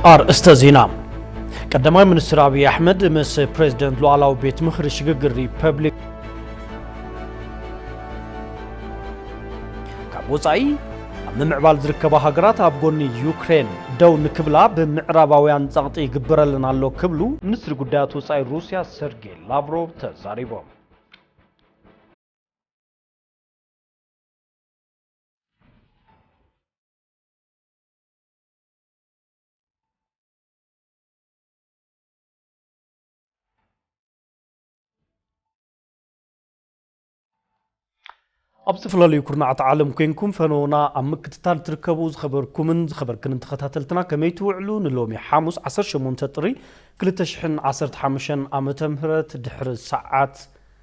ኣርእስተ ዜና ቀዳማይ ሚኒስትር ኣብዪ ኣሕመድ ምስ ፕሬዚደንት ሉዓላዊ ቤት ምኽሪ ሽግግር ሪፐብሊክ ካብ ወፃኢ ኣብ ምምዕባል ዝርከባ ሃገራት ኣብ ጎኒ ዩክሬን ደው ንክብላ ብምዕራባውያን ጸቕጢ ይግበረለን ኣሎ ክብሉ ሚኒስትሪ ጉዳያት ወፃኢ ሩስያ ሰርጌይ ላቭሮቭ ተዛሪቦም። ኣብ ዝተፈላለዩ ኩርናዓት ዓለም ኮንኩም ፈነውና ኣብ ምክትታል ትርከቡ ዝኸበርኩምን ዝኸበርክንን ተኸታተልትና ከመይ ትውዕሉ ንሎሚ ሓሙስ 18 ጥሪ 2015 ዓ ም ድሕሪ ሰዓት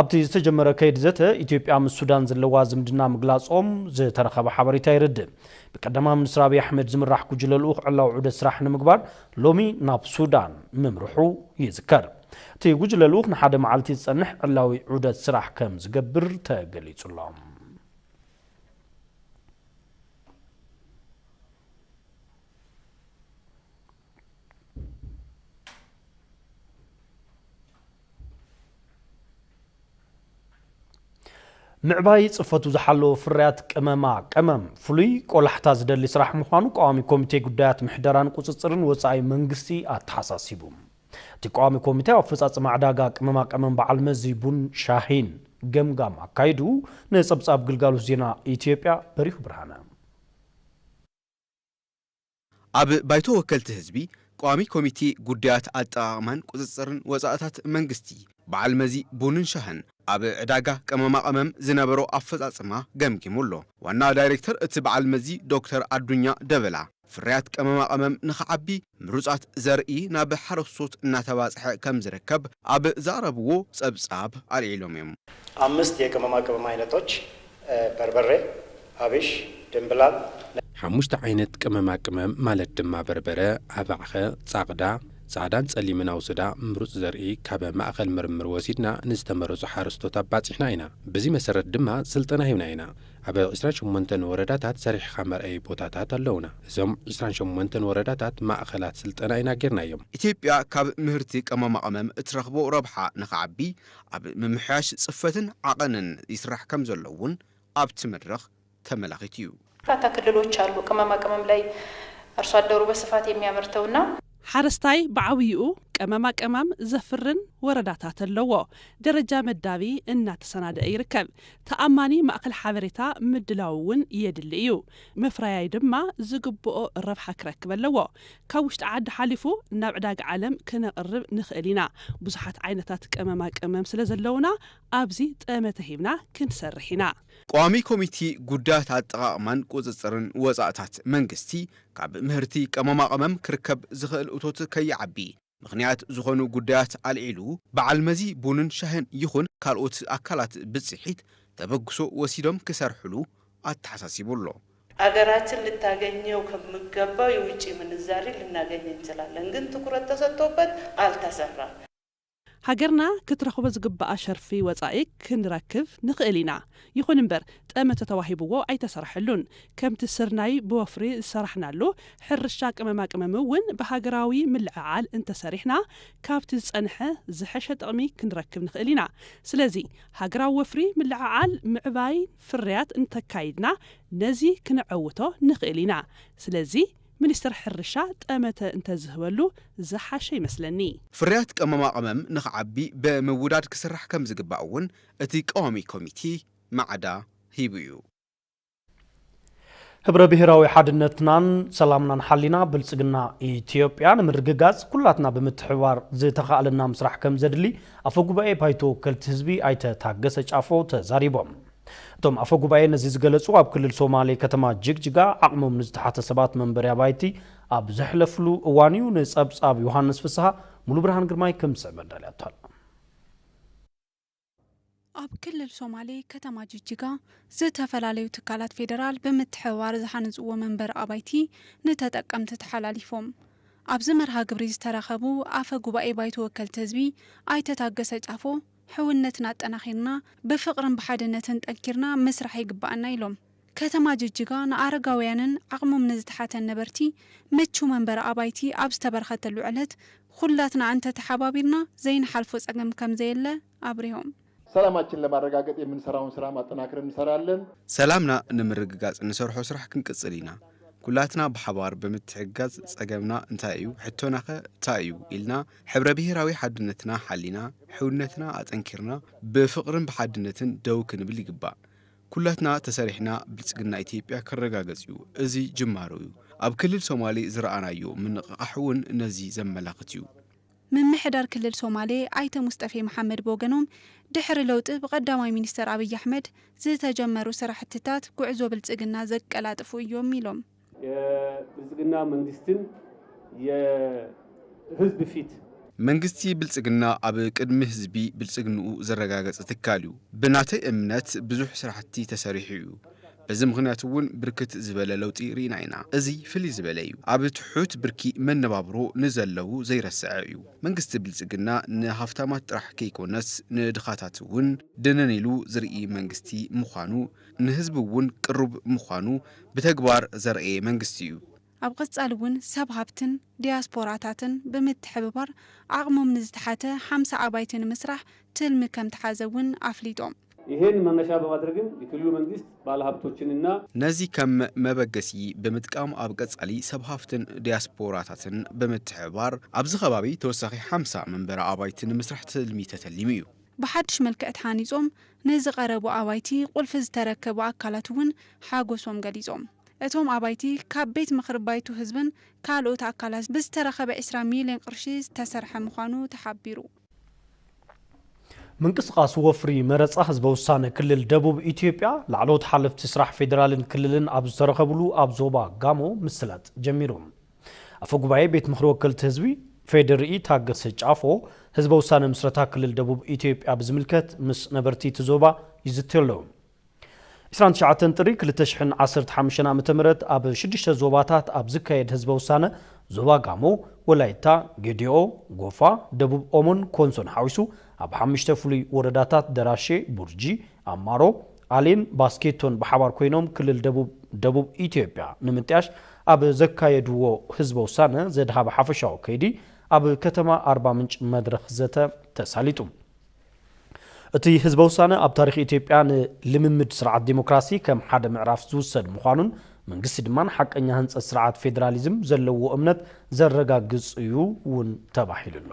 ኣብቲ ዝተጀመረ ከይዲ ዘተ ኢትዮጵያ ምስ ሱዳን ዘለዋ ዝምድና ምግላፆም ዝተረኸበ ሓበሬታ የረድእ። ብቀዳማ ሚኒስትር ኣብይ ኣሕመድ ዝምራሕ ጉጅለ ልኡኽ ዕላዊ ዑደት ስራሕ ንምግባር ሎሚ ናብ ሱዳን ምምርሑ ይዝከር። እቲ ጉጅለ ልኡኽ ንሓደ መዓልቲ ዝፀንሕ ዕላዊ ዑደት ስራሕ ከምዝገብር ተገሊፁ ኣሎ። ምዕባይ ጽፈቱ ዝሓለወ ፍርያት ቅመማ ቀመም ፍሉይ ቆላሕታ ዝደሊ ስራሕ ምዃኑ ቀዋሚ ኮሚቴ ጉዳያት ምሕደራን ቁጽጽርን ወጻኢ መንግስቲ ኣተሓሳሲቡ። እቲ ቀዋሚ ኮሚቴ ኣብ ኣፈጻጽማ ዕዳጋ ቅመማ ቀመም በዓል መዚ ቡን ሻሂን ገምጋም ኣካይዱ ንጸብጻብ ግልጋሎት ዜና ኢትዮጵያ በሪሁ ብርሃነ ኣብ ባይቶ ወከልቲ ህዝቢ ቋሚ ኮሚቴ ጉዳያት ኣጠቓቕማን ቁፅፅርን ወፃእታት መንግስቲ በዓል መዚ ቡንን ሻህን ኣብ ዕዳጋ ቅመማ ቐመም ዝነበሮ ኣፈፃፅማ ገምጊሙ ኣሎ። ዋና ዳይሬክተር እቲ በዓል መዚ ዶክተር ኣዱኛ ደበላ ፍርያት ቅመማ ቐመም ንኽዓቢ ምሩፃት ዘርኢ ናብ ሓረስቶት እናተባፅሐ ከምዝርከብ ኣብ ዘቕረብዎ ፀብፃብ ኣልዒሎም እዮም። ኣምስት የቅመማ ቅመም ዓይነቶች፣ በርበሬ፣ ኣብሽ ድምብላል ናይ። ሓሙሽተ ዓይነት ቅመማ ቅመም ማለት ድማ በርበረ፣ ኣባዕኸ፣ ፃቕዳ፣ ፃዕዳን ፀሊምን ኣውስዳ፣ ምሩፅ ዘርኢ ካብ ማእኸል ምርምር ወሲድና ንዝተመረፁ ሓረስቶት ኣባፂሕና ኢና። ብዚ መሰረት ድማ ስልጠና ሂብና ኢና። ኣብ ዕስራን ሸሞንተን ወረዳታት ሰሪሕኻ መርኣዪ ቦታታት ኣለዉና። እዞም ዕስራን ሸሞንተን ወረዳታት ማእኸላት ስልጠና ኢና ገይርናዮም። ኢትዮጵያ ካብ ምህርቲ ቅመማ ቅመም እትረኽቦ ረብሓ ንክዓቢ ኣብ ምምሕያሽ ፅፈትን ዓቐንን ይስራሕ ከምዘሎ እውን ኣብቲ መድረኽ ተመላኺቱ ዩ። በርካታ ክልሎች ኣሉ ቅመማ ቅመም ላይ ኣርሶ ኣደሩ በስፋት የሚያመርተው እና። ሓረስታይ ብዓብይኡ ቀመማ ቀማም ዘፍርን ወረዳታት ኣለዎ። ደረጃ መዳቢ እናተሰናደኣ ይርከብ። ተኣማኒ ማእኸል ሓበሬታ ምድላው እውን የድሊ እዩ። መፍረያይ ድማ ዝግብኦ ረብሓ ክረክብ ኣለዎ። ካብ ውሽጢ ዓዲ ሓሊፉ ናብ ዕዳጋ ዓለም ክነቕርብ ንኽእል ኢና። ብዙሓት ዓይነታት ቀመማ ቅመም ስለዘለውና ኣብዚ ጠመተ ሂብና ክንሰርሕ ኢና። ቋሚ ኮሚቴ ጉዳያት ኣጠቓቕማን ቁፅፅርን ወፃእታት መንግስቲ ካብ ምህርቲ ቀመማ ቐመም ክርከብ ዝኽእል እቶት ከይዓቢ ምኽንያት ዝኾኑ ጉዳያት ኣልዒሉ በዓል መዚ ቡንን ሻህን ይኹን ካልኦት ኣካላት ብፅሒት ተበግሶ ወሲዶም ክሰርሕሉ ኣተሓሳሲቡ ኣሎ። ሀገራችን ልታገኘው ከምገባው የውጪ ምንዛሪ ልናገኝ እንችላለን ግን ትኩረት ተሰጥቶበት አልተሰራም። ሃገርና ክትረኽቦ ዝግብኣ ሸርፊ ወጻኢ ክንረክብ ንኽእል ኢና። ይኹን እምበር ጠመተ ተዋሂብዎ ኣይተሰርሐሉን። ከምቲ ስርናይ ብወፍሪ ዝሰራሕናሉ፣ ሕርሻ ቅመማ ቅመም እውን ብሃገራዊ ምልዕዓል እንተሰሪሕና ካብቲ ዝጸንሐ ዝሐሸ ጥቕሚ ክንረክብ ንኽእል ኢና። ስለዚ ሃገራዊ ወፍሪ ምልዕዓል ምዕባይ ፍርያት እንተካይድና ነዚ ክነዐውቶ ንኽእል ኢና። ስለዚ ሚኒስትር ሕርሻ ጠመተ እንተዝህበሉ ዝሓሸ ይመስለኒ። ፍርያት ቅመማ ቅመም ንኽዓቢ ብምውዳድ ክስራሕ ከምዝግባእ እውን እቲ ቀዋሚ ኮሚቴ ማዕዳ ሂቡ እዩ። ህብረ ብሄራዊ ሓድነትናን ሰላምናን ሓሊና ብልፅግና ኢትዮጵያ ንምርግጋፅ ኩላትና ብምትሕብባር ዝተኻእለና ምስራሕ ከምዘድሊ ኣፈ ጉባኤ ባይቶ ወከልቲ ህዝቢ ኣይተ ታገሰ ጫፎ ተዛሪቦም። እቶም ኣፈ ጉባኤ ነዚ ዝገለፁ ኣብ ክልል ሶማሌ ከተማ ጅግጅጋ ዓቕሞም ንዝተሓተ ሰባት መንበሪ ኣባይቲ ኣብ ዘሕለፍሉ እዋን እዩ። ንፀብፃብ ዮሃንስ ፍስሃ ሙሉብርሃን ግርማይ ከም ዝስዕብ ኣዳልያቶ ኣላ። ኣብ ክልል ሶማሌ ከተማ ጅጅጋ ዝተፈላለዩ ትካላት ፌዴራል ብምትሕብባር ዝሃንፅዎ መንበሪ ኣባይቲ ንተጠቀምቲ ተሓላሊፎም። ኣብዚ መርሃ ግብሪ ዝተረኸቡ ኣፈ ጉባኤ ባይቶ ወከልቲ ህዝቢ ኣይተ ታገሰ ጫፎ ሕውነትና ኣጠናኺርና ብፍቕርን ብሓድነትን ጠንኪርና ምስራሕ ይግበኣና ኢሎም። ከተማ ጅጅጋ ንኣረጋውያንን ዓቕሞም ንዝተሓተን ነበርቲ ምቹው መንበሪ ኣባይቲ ኣብ ዝተበርኸተሉ ዕለት ኹላትና እንተተሓባቢርና ዘይንሓልፎ ፀገም ከምዘየለ ኣብሪሆም። ሰላማችን ለማረጋገጥ የምንሰራውን ስራም ኣጠናክረን እንሰራለን። ሰላምና ንምርግጋፅ እንሰርሖ ስራሕ ክንቅፅል ኢና። ኩላትና ብሓባር ብምትሕግጋዝ ፀገምና እንታይ እዩ ሕቶናኸ ታይ እዩ ኢልና ሕብረ ብሄራዊ ሓድነትና ሓሊና፣ ሕውነትና ኣጠንኪርና ብፍቕርን ብሓድነትን ደው ክንብል ይግባእ። ኩላትና ተሰሪሕና ብልፅግና ኢትዮጵያ ክረጋገፅ ዩ። እዚ ጅማሮ ዩ። ኣብ ክልል ሶማሌ ዝረኣናዮ ምንቕቓሕ ውን ነዚ ዘመላኽት ዩ። ምምሕዳር ክልል ሶማሌ ኣይተ ሙስጠፌ መሓመድ ብወገኖም፣ ድሕሪ ለውጢ ብቀዳማይ ሚኒስትር ኣብይ ኣሕመድ ዝተጀመሩ ስራሕቲታት ጉዕዞ ብልፅግና ዘቀላጥፉ እዮም ኢሎም። የብልፅግና መንግስትን የህዝብ ፊት። መንግስቲ ብልፅግና ኣብ ቅድሚ ህዝቢ ብልፅግንኡ ዘረጋገፀ ትካል እዩ። ብናተይ እምነት ብዙሕ ስራሕቲ ተሰሪሑ እዩ። በዚ ምኽንያት እውን ብርክት ዝበለ ለውጢ ርኢና ኢና። እዚ ፍልይ ዝበለ እዩ። ኣብ ትሑት ብርኪ መነባብሮ ንዘለዉ ዘይረሰዐ እዩ። መንግስቲ ብልፅግና ንሃፍታማት ጥራሕ ከይኮነስ ንድኻታት እውን ድንን ኢሉ ዝርኢ መንግስቲ ምዃኑ ንህዝቢ እውን ቅሩብ ምዃኑ ብተግባር ዘርኣየ መንግስቲ እዩ። ኣብ ቐፃሊ እውን ሰብ ሃብትን ዲያስፖራታትን ብምትሕብባር ዓቕሞም ንዝተሓተ ሓምሳ ኣባይቲ ንምስራሕ ትልሚ ከምተሓዘ እውን ኣፍሊጦም። ይሄን መነሻ በማድረግም የክልሉ መንግስት ባለሃብቶችን እና። ነዚ ከም መበገሲ ብምጥቃም ኣብ ቀፃሊ ሰብ ሃፍትን ዲያስፖራታትን ብምትሕብባር ኣብዚ ከባቢ ተወሳኺ ሓምሳ መንበሪ ኣባይቲ ንምስራሕ ትልሚ ተተሊሙ እዩ። ብሓድሽ መልክዕ ተሃኒፆም ንዝቐረቡ ኣባይቲ ቁልፊ ዝተረከቡ ኣካላት እውን ሓጎሶም ገሊፆም። እቶም ኣባይቲ ካብ ቤት ምኽሪ ባይቶ ህዝብን ካልኦት ኣካላት ብዝተረኸበ ዕስራ ሚሊየን ቕርሺ ዝተሰርሐ ምዃኑ ተሓቢሩ። ምንቅስቓስ ወፍሪ መረፃ ህዝበ ውሳነ ክልል ደቡብ ኢትዮጵያ ላዕለዎት ሓለፍቲ ስራሕ ፌዴራልን ክልልን ኣብ ዝተረኸብሉ ኣብ ዞባ ጋሞ ምስላጥ ጀሚሩ። ኣፈ ጉባኤ ቤት ምኽሪ ወከልቲ ህዝቢ ፌዴሪኢ ታገሰ ጫፎ ህዝበ ውሳነ ምስረታ ክልል ደቡብ ኢትዮጵያ ብዝምልከት ምስ ነበርቲ እቲ ዞባ ይዝትዩ ኣለዉ። ዕስራን ትሽዓተን ጥሪ ክልተ ሽሕን ዓሰርተ ሓሙሽተን ዓመተ ምህረት ኣብ ሽዱሽተ ዞባታት ኣብ ዝካየድ ህዝበ ውሳነ ዞባ ጋሞ፣ ወላይታ፣ ጌዴኦ፣ ጎፋ፣ ደቡብ ኦሞን ኮንሶን ሓዊሱ ኣብ ሓሙሽተ ፍሉይ ወረዳታት ደራሼ፣ ቡርጂ፣ ኣማሮ፣ ኣሊን ባስኬቶን ብሓባር ኮይኖም ክልል ደቡብ ደቡብ ኢትዮጵያ ንምጥያሽ ኣብ ዘካየድዎ ህዝበ ውሳነ ዘድሃበ ሓፈሻዊ ከይዲ ኣብ ከተማ ኣርባ ምንጭ መድረኽ ዘተ ተሳሊጡ። እቲ ህዝበ ውሳነ ኣብ ታሪኽ ኢትዮጵያ ንልምምድ ስርዓት ዴሞክራሲ ከም ሓደ ምዕራፍ ዝውሰድ ምዃኑን መንግስቲ ድማ ንሓቀኛ ህንፀት ስርዓት ፌዴራሊዝም ዘለዎ እምነት ዘረጋግፅ እዩ እውን ተባሂሉ'ሎ።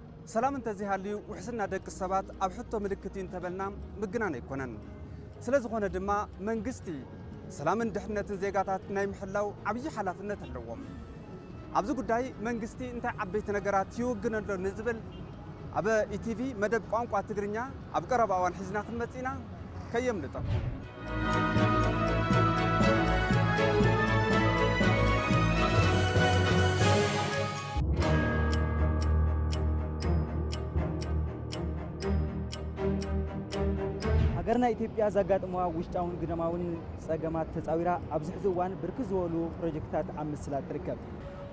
ሰላም እንተዘይሃልዩ ውሕስና ደቂ ሰባት ኣብ ሕቶ ምልክት እዩ እንተበልና ምግናን ኣይኮነን። ስለ ዝኾነ ድማ መንግስቲ ሰላምን ድሕነትን ዜጋታት ናይ ምሕላው ዓብዪ ሓላፍነት ኣለዎም። ኣብዚ ጉዳይ መንግስቲ እንታይ ዓበይቲ ነገራት ይውግን ኣሎ ንዝብል ኣብ ኢቲቪ መደብ ቋንቋ ትግርኛ ኣብ ቀረባ እዋን ሒዝና ክንመጽእ ኢና። ከየምልጠኩም። ሃገርና ኢትዮጵያ ዘጋጥመዋ ውሽጣውን ግዳማውን ጸገማት ተጻዊራ ኣብዚ ሕዚ እዋን ብርክት ዝበሉ ፕሮጀክትታት ኣብ ምስላጥ ትርከብ።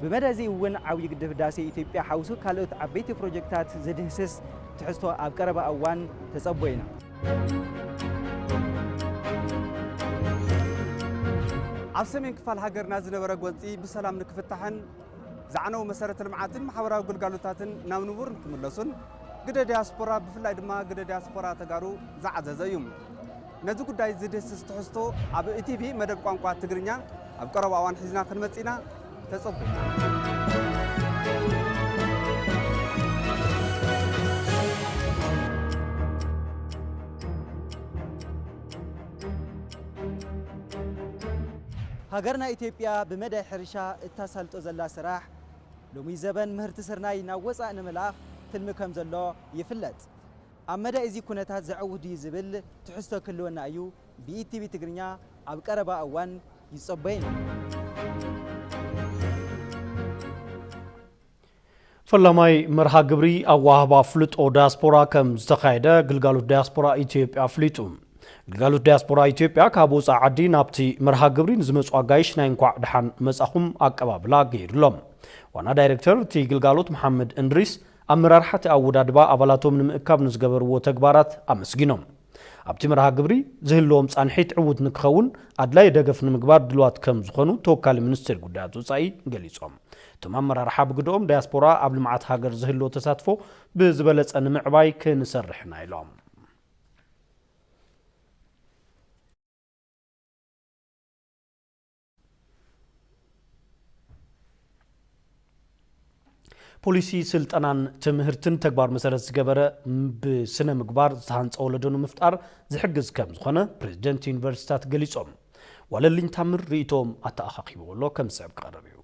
ብመደ እዚ እውን ዓብዪ ግድብ ህዳሴ ኢትዮጵያ ሓዊሱ ካልኦት ዓበይቲ ፕሮጀክትታት ዝድህስስ ትሕዝቶ ኣብ ቀረባ እዋን ተጸቦ ኢና። ኣብ ሰሜን ክፋል ሃገርና ዝነበረ ጎንፂ ብሰላም ንክፍታሕን ዝዓነው መሰረተ ልምዓትን ማሕበራዊ ግልጋሎታትን ናብ ንቡር ንክምለሱን ግደ ዲያስፖራ ብፍላይ ድማ ግደ ዲያስፖራ ተጋሩ ዝዓዘዘ እዩ ነዚ ጉዳይ ዝድህስስ ትሕዝቶ ኣብ ኢቲቪ መደብ ቋንቋ ትግርኛ ኣብ ቀረባ እዋን ሒዝና ክንመፅእ ኢና ሃገርና ኢትዮጵያ ብመዳይ ሕርሻ እታሳልጦ ዘላ ስራሕ ሎሚ ዘበን ምህርቲ ስርናይ ናብ ወፃእ ንምልኣኽ ትልሚ ከምዘሎ ይፍለጥ። ኣብ መዳይ እዚ ኩነታት ዘዐውት ድዩ ዝብል ትሕዝቶ ክህልወና እዩ። ብኢቲቪ ትግርኛ ኣብ ቀረባ እዋን ይጸበዩን እዮም። ፈላማይ መርሃ ግብሪ ኣወሃህባ ኣፍልጦ ዳያስፖራ ከም ዝተኻየደ ግልጋሎት ዳያስፖራ ኢትዮጵያ ኣፍሊጡ። ግልጋሎት ዳያስፖራ ኢትዮጵያ ካብ ወፃኢ ዓዲ ናብቲ መርሃ ግብሪ ንዝመፁ ኣጋይሽ ናይ እንኳዕ ድሓን መፃኹም ኣቀባብላ ገይሩሎም። ዋና ዳይሬክተር እቲ ግልጋሎት መሓመድ እንድሪስ ኣመራርሓ እቲ ኣወዳድባ ኣባላቶም ንምእካብ ንዝገበርዎ ተግባራት ኣመስጊኖም። ኣብቲ መርሃ ግብሪ ዝህልዎም ፃንሒት ዕዉት ንክኸውን ኣድላዪ ደገፍ ንምግባር ድልዋት ከም ዝኾኑ ተወካሊ ሚኒስቴር ጉዳያት ወፃኢ ገሊፆም። እቶም ኣመራርሓ ብግደኦም፣ ዳያስፖራ ኣብ ልምዓት ሃገር ዝህልዎ ተሳትፎ ብዝበለፀ ንምዕባይ ክንሰርሕ ኢና ኢሎም። ፖሊሲ ስልጠናን ትምህርትን ተግባር መሰረት ዝገበረ ብስነ ምግባር ዝተሃንፀ ወለዶ ንምፍጣር ዝሕግዝ ከም ዝኾነ ፕሬዚደንት ዩኒቨርሲቲታት ገሊፆም። ዋለልኝ ታምር ርእይቶኦም ኣተኣኻኺብዎ ኣሎ ከም ዝስዕብ ክቐርብ እዩ።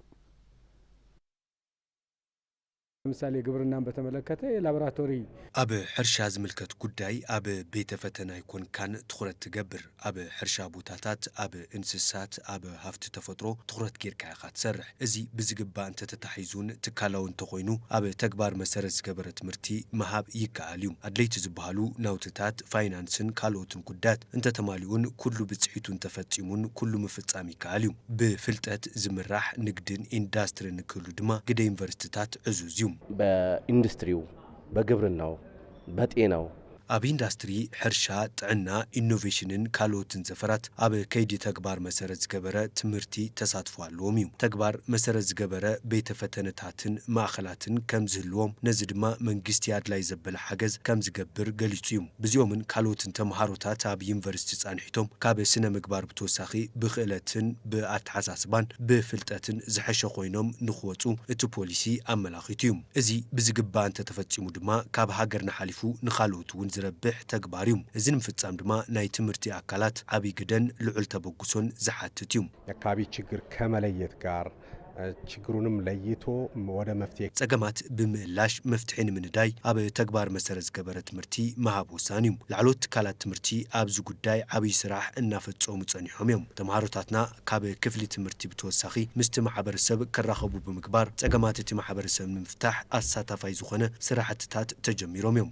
ለምሳሌ ግብርናን በተመለከተ የላብራቶሪ። ኣብ ሕርሻ ዝምልከት ጉዳይ ኣብ ቤተ ፈተና ኣይኮንካን ትኹረት ትገብር። ኣብ ሕርሻ ቦታታት፣ ኣብ እንስሳት፣ ኣብ ሃፍቲ ተፈጥሮ ትኹረት ጌርካ ኢኻ ትሰርሕ። እዚ ብዝግባእ እንተተታሒዙን ትካላዊ እንተኾይኑ ኣብ ተግባር መሰረት ዝገበረ ትምህርቲ ምሃብ ይከኣል እዩ። ኣድለይቲ ዝበሃሉ ናውትታት፣ ፋይናንስን ካልኦትን ጉዳያት እንተተማሊኡን ኩሉ ብፅሒቱ እንተፈፂሙን ኩሉ ምፍፃም ይከኣል እዩ። ብፍልጠት ዝምራሕ ንግድን ኢንዳስትሪን ክህሉ ድማ ግደ ዩኒቨርሲቲታት ዕዙዝ እዩ። በኢንዱስትሪው፣ በግብርናው፣ በጤናው። ኣብ ኢንዳስትሪ፣ ሕርሻ፣ ጥዕና፣ ኢኖቬሽንን ካልኦትን ዘፈራት ኣብ ከይዲ ተግባር መሰረት ዝገበረ ትምህርቲ ተሳትፎ ኣለዎም እዩ። ተግባር መሰረት ዝገበረ ቤተ ፈተነታትን ማእኸላትን ከምዝህልዎም ነዚ ድማ መንግስቲ ኣድላይ ዘበለ ሓገዝ ከምዝገብር ገሊፁ እዩ። ብዚኦምን ካልኦትን ተመሃሮታት ኣብ ዩኒቨርሲቲ ፃንሒቶም ካብ ስነ-ምግባር ብተወሳኺ ብክእለትን ብኣተሓሳስባን ብፍልጠትን ዝሐሸ ኮይኖም ንክወፁ እቲ ፖሊሲ ኣመላኺቱ ዩ። እዚ ብዝግባእ እንተተፈፂሙ ድማ ካብ ሃገርና ሓሊፉ ንካልኦት ውን ዝረብሕ ተግባር ዩ። እዚ ንምፍፃም ድማ ናይ ትምህርቲ ኣካላት ዓብይ ግደን ልዑል ተበግሶን ዝሓትት ዩ። የካቢ ችግር ከመለየት ጋር ችግሩንም ለይቶ ወደ መፍትሔ ጸገማት ብምእላሽ መፍትሒ ንምንዳይ ኣብ ተግባር መሰረት ዝገበረ ትምህርቲ ምሃብ ወሳኒ እዩ። ላዕለዎት ትካላት ትምህርቲ ኣብዚ ጉዳይ ዓብይ ስራሕ እናፈፀሙ ፀኒሖም እዮም። ተምሃሮታትና ካብ ክፍሊ ትምህርቲ ብተወሳኺ ምስቲ ማሕበረሰብ ክራኸቡ ብምግባር ፀገማት እቲ ማሕበረሰብ ንምፍታሕ ኣሳታፋይ ዝኾነ ስራሕትታት ተጀሚሮም እዮም።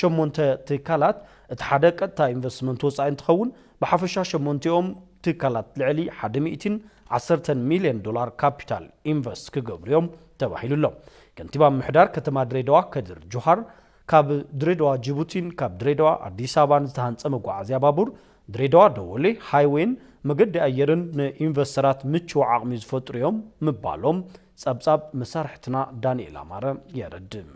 ሸሞንተ ትካላት፣ እቲ ሓደ ቀጥታ ኢንቨስትመንት ወፃኢ እንትኸውን፣ ብሓፈሻ ሸሞንቲኦም ትካላት ልዕሊ ሓደ ሚእቲን ዓሰርተን ሚሊየን ዶላር ካፒታል ኢንቨስት ክገብሩ እዮም ተባሂሉ'ሎ። ከንቲባ ምምሕዳር ከተማ ድሬዳዋ ከድር ጁሃር ካብ ድሬዳዋ ጂቡቲን ካብ ድሬዳዋ ኣዲስ ኣበባን ዝተሃንፀ መጓዓዝያ ባቡር ድሬዳዋ ደወሌ ሃይዌይን መገዲ ኣየርን ንኢንቨስተራት ምቹው ዓቕሚ ዝፈጥሩ እዮም ምባሎም ፀብፃብ መሳርሕትና ዳኒኤል ኣማረ የረድእ።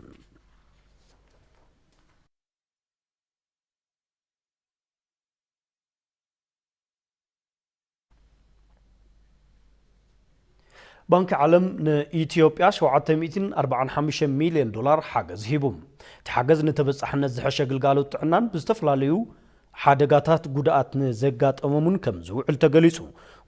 ባንኪ ዓለም ንኢትዮጵያ 745 ሚልዮን ዶላር ሓገዝ ሂቡ። እቲ ሓገዝ ንተበፃሕነት ዝሐሸ ግልጋሎት ጥዕናን ብዝተፈላለዩ ሓደጋታት ጉድኣት ንዘጋጠሞም'ውን ከምዝውዕል ተገሊፁ።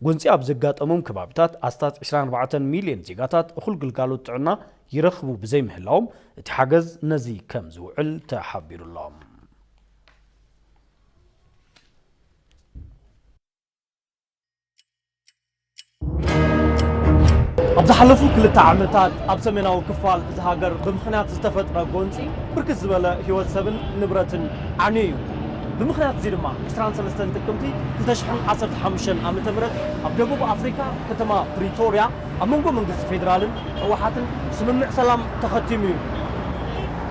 ጎንፂ ኣብ ዘጋጠሞም ከባቢታት ኣስታት ዕስራን ኣርባዕተን ሚሊየን ዜጋታት እኹል ግልጋሎት ጥዕና ይረኽቡ ብዘይምህላዎም እቲ ሓገዝ ነዚ ከምዝውዕል ተሓቢሩ'ሎ። ኣብ ዝሓለፉ ክልተ ዓመታት ኣብ ሰሜናዊ ክፋል እዚ ሃገር ብምኽንያት ዝተፈጥረ ጎንፂ ብርክት ዝበለ ህይወት ሰብን ንብረትን ዓንዩ እዩ። ብምኽንያት እዚ ድማ 23 ጥቅምቲ 2015 ዓ.ም ኣብ ደቡብ ኣፍሪካ ከተማ ፕሪቶርያ ኣብ መንጎ መንግስቲ ፌዴራልን ህወሓትን ስምምዕ ሰላም ተኸቲሙ እዩ።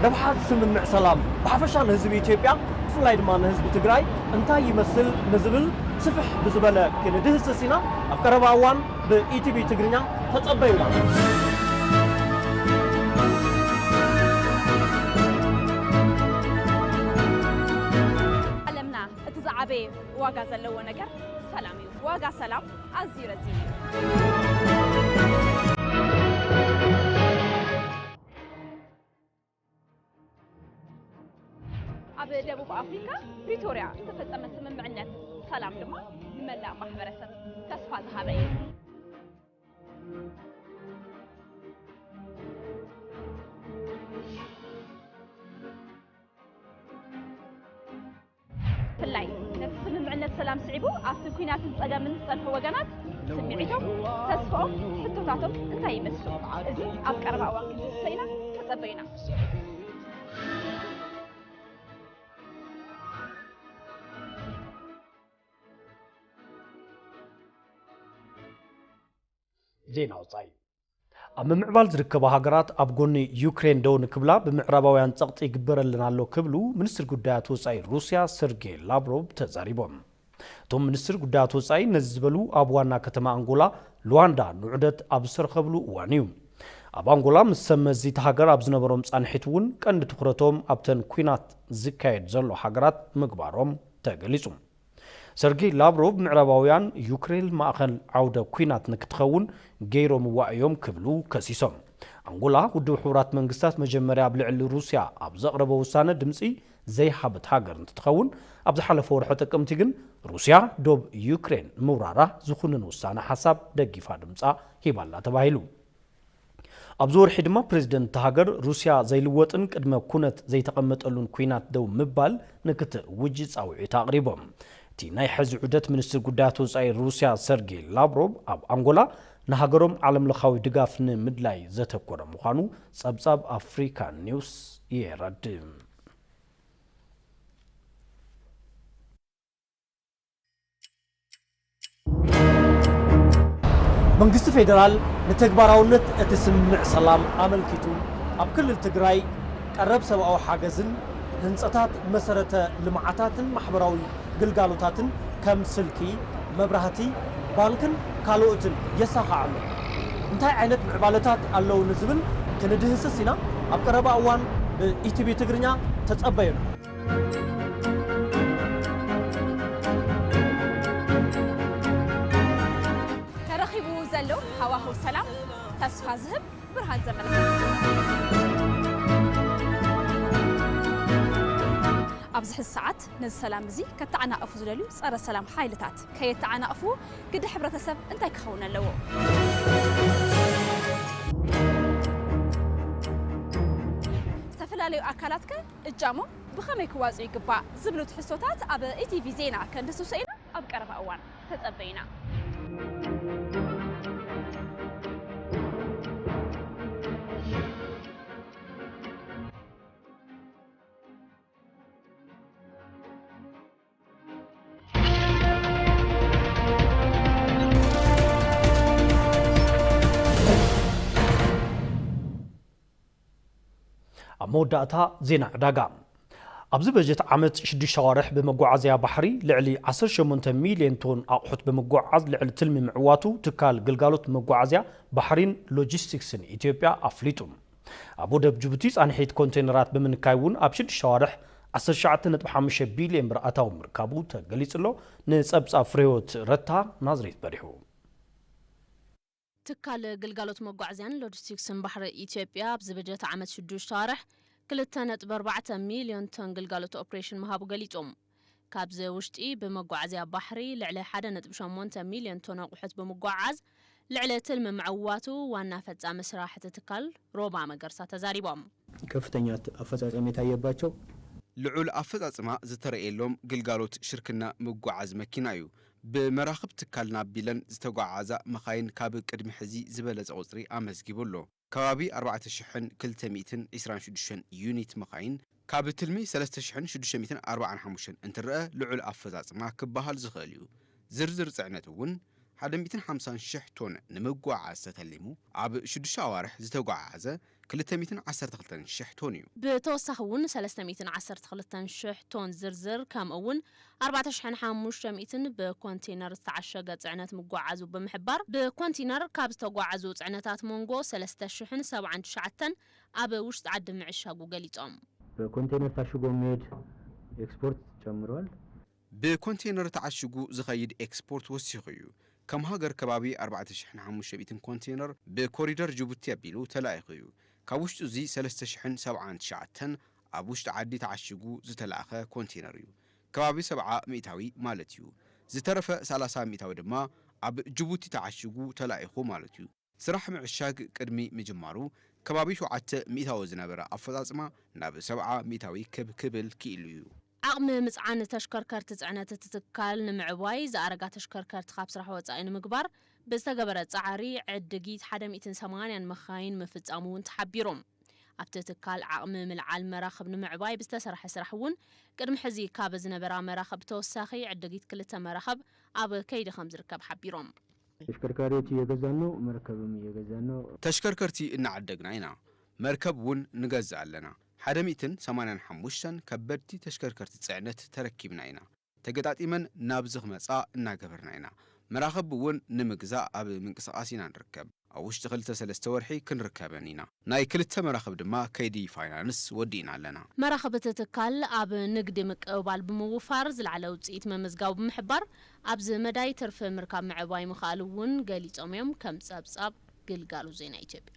ረብሓ ስምምዕ ሰላም ብሓፈሻ ንህዝቢ ኢትዮጵያ ብፍላይ ድማ ንህዝቢ ትግራይ እንታይ ይመስል ንዝብል ስፍሕ ብዝበለ ክንድህስስ ኢና። ኣብ ቀረባ እዋን ብኢቲቪ ትግርኛ ተጸበዩና። ዝዓበየ ዋጋ ዘለዎ ነገር ሰላም እዩ። ዋጋ ሰላም ኣዝዩ ረዚን እዩ። ኣብ ደቡብ ኣፍሪካ ፕሪቶርያ ዝተፈፀመ ስምምዕነት ሰላም ድማ ንመላእ ማሕበረሰብ ተስፋ ዝሃበ እዩ። ብፍላይ ነቲ ስምምዕነት ሰላም ስዒቡ ኣብቲ ኲናትን ጸገምን ዝጸንሑ ወገናት ስምዒቶም፣ ተስፋኦም፣ ሕቶታቶም እንታይ ይመስሉ? እዚ ኣብ ቀረባ እዋን ክንድህስሶ ኢና፣ ተጸበዩና። ዜና ወፃኢ ኣብ ምምዕባል ዝርከባ ሃገራት ኣብ ጎኒ ዩክሬን ደው ንክብላ ብምዕራባውያን ጸቕጢ ይግበረለን ኣሎ ክብሉ ሚኒስትር ጉዳያት ወጻኢ ሩስያ ሰርጌይ ላቭሮቭ ተዛሪቦም። እቶም ሚኒስትር ጉዳያት ወጻኢ ነዚ ዝበሉ ኣብ ዋና ከተማ ኣንጎላ ሉዋንዳ ንዑደት ኣብ ዝተረኸብሉ እዋን እዩ። ኣብ ኣንጎላ ምስ ሰብ መዚ እታ ሃገር ኣብ ዝነበሮም ጻንሒት እውን ቀንዲ ትኹረቶም ኣብተን ኲናት ዝካየድ ዘሎ ሃገራት ምግባሮም ተገሊጹ። ሰርጌይ ላቭሮቭ ምዕራባውያን ዩክሬል ማእኸል ዓውደ ኲናት ንክትኸውን ገይሮምዋ እዮም ክብሉ ከሲሶም። ኣንጎላ ውድብ ሕቡራት መንግስታት መጀመርያ ኣብ ልዕሊ ሩስያ ኣብ ዘቕረቦ ውሳነ ድምፂ ዘይሃበት ሃገር እንትትኸውን ኣብ ዝሓለፈ ወርሒ ጥቅምቲ ግን ሩስያ ዶብ ዩክሬን ምውራራ ዝኹንን ውሳነ ሓሳብ ደጊፋ ድምፃ ሂባ'ላ ተባሂሉ። ኣብዚ ወርሒ ድማ ፕረዚደንት እታ ሃገር ሩስያ ዘይልወጥን ቅድመ ኩነት ዘይተቐመጠሉን ኲናት ደው ምባል ንክትእውጅ ጻውዒት ኣቕሪቦም። እቲ ናይ ሕዚ ዑደት ሚኒስትር ጉዳያት ወጻኢ ሩስያ ሰርጌይ ላቭሮቭ ኣብ ኣንጎላ ንሃገሮም ዓለምለኻዊ ድጋፍ ንምድላይ ዘተኮረ ምዃኑ ጸብጻብ ኣፍሪካ ኒውስ የረድእ። መንግስቲ ፌደራል ንተግባራውነት እቲ ስምምዕ ሰላም ኣመልኪቱ ኣብ ክልል ትግራይ ቀረብ ሰብኣዊ ሓገዝን ህንፀታት መሰረተ ልምዓታትን ማሕበራዊ ግልጋሎታትን ከም ስልኪ፣ መብራህቲ፣ ባንክን ካልኦትን የሳኽዕ ኣሎ። እንታይ ዓይነት ምዕባለታት ኣለዉ ንዝብል ክንድህስስ ኢና። ኣብ ቀረባ እዋን ብኢቲቪ ትግርኛ ተፀበዩና። ተረኺቡ ዘሎ ሃዋህው ሰላም ተስፋ ዝህብ ብርሃን ዘመልክት ኣብዚ ሕዚ ሰዓት ነዚ ሰላም እዚ ከተዓናቕፉ ዝደልዩ ጸረ ሰላም ሓይልታት ከየተዓናቕፉ ግደ ሕብረተሰብ እንታይ ክኸውን ኣለዎ? ዝተፈላለዩ ኣካላት ከ እጃሞም ብኸመይ ክዋፅኡ ይግባእ ዝብሉ ትሕዝቶታት ኣብ ኢቲቪ ዜና ከንድስሶ ኢና ኣብ ቀረባ እዋን ተፀበዩና። ኣብ መወዳእታ ዜና ዕዳጋ ኣብዚ በጀት ዓመት ሽዱሽተ ኣዋርሕ ብመጓዓዝያ ባሕሪ ልዕሊ 18 ሚልዮን ቶን ኣቑሑት ብምጓዓዝ ልዕሊ ትልሚ ምዕዋቱ ትካል ግልጋሎት መጓዓዝያ ባሕሪን ሎጂስቲክስን ኢትዮጵያ ኣፍሊጡ። ኣብ ወደብ ጅቡቲ ፃንሒት ኮንቴነራት ብምንካይ እውን ኣብ ሽዱሽተ ኣዋርሕ ዓሰርተ ትሽዓተ ነጥቢ ሓሙሽተ ቢሊየን ብር ኣታዊ ምርካቡ ተገሊፁ ኣሎ። ንፀብፃብ ፍሬህይወት ረታ ናዝሬት በሪሁ። ትካል ግልጋሎት መጓዓዝያን ሎጂስቲክስን ባሕሪ ኢትዮጵያ ኣብዚ በጀት ዓመት ሽዱሽተ ኣዋርሕ ክልተ ነጥቢ ኣርባዕተ ሚሊዮን ቶን ግልጋሎት ኦፕሬሽን ምሃቡ ገሊፁ። ካብዚ ውሽጢ ብመጓዓዝያ ባሕሪ ልዕሊ ሓደ ነጥቢ ሸሞንተ ሚልዮን ቶን ኣቑሑት ብምጉዕዓዝ ልዕሊ ትልሚ ምዕዋቱ ዋና ፈፃሚ ስራሕ እቲ ትካል ሮባ መገርሳ ተዛሪቦም። ከፍተኛ ኣፈፃፀሚ የታየባቸው። ልዑል ኣፈፃፅማ ዝተረእየሎም ግልጋሎት ሽርክና ምጉዕዓዝ መኪና እዩ። ብመራኽብ ትካል ናብ ቢለን ዝተጉዓዓዛ መኻይን ካብ ቅድሚ ሕዚ ዝበለፀ ቁፅሪ ኣመዝጊቡ ኣሎ። ከባቢ ኣርባዕተ ሽሕን ክልተ ሚእትን ዒስራን ሽዱሽተን ዩኒት መኻይን ካብ ትልሚ ሰለስተ ሽሕን ሽዱሽተ ሚእትን ኣርባዓን ሓሙሽተን እንትረኣ ልዑል ኣፈፃፅማ ክበሃል ዝኽእል እዩ። ዝርዝር ፅዕነት እውን ሓደ ሚእትን ሓምሳን ሽሕ ቶን ንምጉዕዓዝ ተተሊሙ ኣብ ሽዱሽተ ኣዋርሕ ዝተጉዓዓዘ ክልተ ሚእትን ዓሰርተ ክልተን ሽሕ ቶን እዩ። ብተወሳኺ እውን ሰለስተ ሚእትን ዓሰርተ ክልተን ሽሕ ቶን ዝርዝር ከምኡ እውን ኣርባዕተ ሽሕን ሓሙሽተ ሚእትን ብኮንቲነር ዝተዓሸገ ፅዕነት ምጉዕዓዙ ብምሕባር፣ ብኮንቲነር ካብ ዝተጉዓዙ ፅዕነታት ሞንጎ ሰለስተ ሽሕን ሰብዓን ትሽዓተን ኣብ ውሽጢ ዓዲ ምዕሻጉ ገሊፆም። ብኮንቴነር ታሽጎ ምሄድ ኤክስፖርት ጨምሯል። ብኮንቴነር ተዓሽጉ ዝኸይድ ኤክስፖርት ወሲኹ እዩ። ከም ሃገር ከባቢ ኣርባዕተ ሽሕን ሓሙሽተ ሚእትን ኮንቴነር ብኮሪደር ጅቡቲ ኣቢሉ ተላኢኹ እዩ። ካብ ውሽጢ እዙይ ሰለስተ ሽሕን ሰብዓን ትሽዓተን ኣብ ውሽጢ ዓዲ ተዓሺጉ ዝተላእከ ኮንቴነር እዩ። ከባቢ ሰብዓ ሚእታዊ ማለት እዩ። ዝተረፈ ሰላሳ ሚእታዊ ድማ ኣብ ጅቡቲ ተዓሺጉ ተላኢኹ ማለት እዩ። ስራሕ ምዕሻግ ቅድሚ ምጅማሩ ከባቢ ሸውዓተ ሚእታዊ ዝነበረ ኣፈፃፅማ ናብ ሰብዓ ሚእታዊ ክብ ክብል ክኢሉ እዩ። ዓቕሚ ምፅዓን ተሽከርከርቲ ፅዕነት እቲ ትካል ንምዕባይ ዝኣረጋ ተሽከርከርቲ ካብ ስራሕ ወፃኢ ንምግባር ብዝተገበረ ፃዕሪ ዕድጊት ሓደ ሚእትን ሰማንያን መካይን ምፍፃሙ እውን ተሓቢሩ። ኣብቲ ትካል ዓቕሚ ምልዓል መራኽብ ንምዕባይ ብዝተሰርሐ ስራሕ እውን ቅድሚ ሕዚ ካብ ዝነበራ መራኽብ ብተወሳኺ ዕድጊት ክልተ መራኽብ ኣብ ከይዲ ከምዝርከብ ሓቢሮም። ተሽከርካሪዎች እየገዛን ነው፣ መርከብም እየገዛን ነው። ተሽከርከርቲ እናዓደግና ኢና፣ መርከብ እውን ንገዝእ ኣለና። ሓደ ሚእትን ሰማንያን ሓሙሽተን ከበድቲ ተሽከርከርቲ ፅዕነት ተረኪብና ኢና። ተገጣጢመን ናብዚ ክመፃ እናገበርና ኢና። መራኽብ እውን ንምግዛእ ኣብ ምንቅስቓስ ኢና ንርከብ። ኣብ ውሽጢ ክልተ ሰለስተ ወርሒ ክንርከበን ኢና። ናይ ክልተ መራኽብ ድማ ከይዲ ፋይናንስ ወዲእና ኣለና። መራኽብ እቲ ትካል ኣብ ንግዲ ምቅብባል ብምውፋር ዝለዓለ ውፅኢት ምምዝጋቡ ብምሕባር፣ ኣብዚ መዳይ ትርፊ ምርካብ ምዕባይ ምኽኣሉ እውን ገሊፆም እዮም ከም ፀብፃብ ግልጋሎት ዜና ኢትዮጵያ።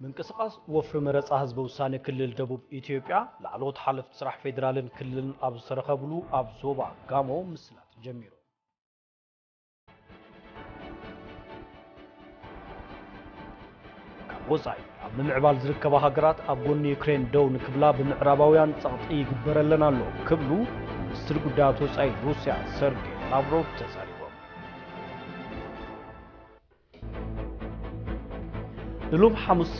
ምንቅስቓስ ወፍሪ መረፃ ህዝበ ውሳነ ክልል ደቡብ ኢትዮጵያ ላዕለዎት ሓለፍቲ ስራሕ ፌዴራልን ክልልን ኣብ ዝተረኸብሉ ኣብ ዞባ ጋሞ ምስላጥ ጀሚሩ። ካብ ወፃኢ ኣብ ምምዕባል ዝርከባ ሃገራት ኣብ ጎኒ ዩክሬን ደው ንክብላ ብምዕራባውያን ጸቕጢ ይግበረለን ኣሎ ክብሉ ሚኒስትር ጉዳያት ወፃኢ ሩስያ ሰርጌይ ላቭሮቭ ተዛሪቦም። ንሎሚ ሓሙስ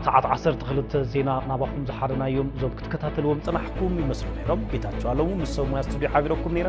ሰዓት 12 ዜና ናባኹም ዝሓረናዮም እዞም ክትከታተልዎም ዝጸናሕኩም ይመስሉ ነይሮም። ጌታቸው ኣለሙ ምስ ሰብ ሙያ ስቱድዮ ሓቢረኩም ነይረ።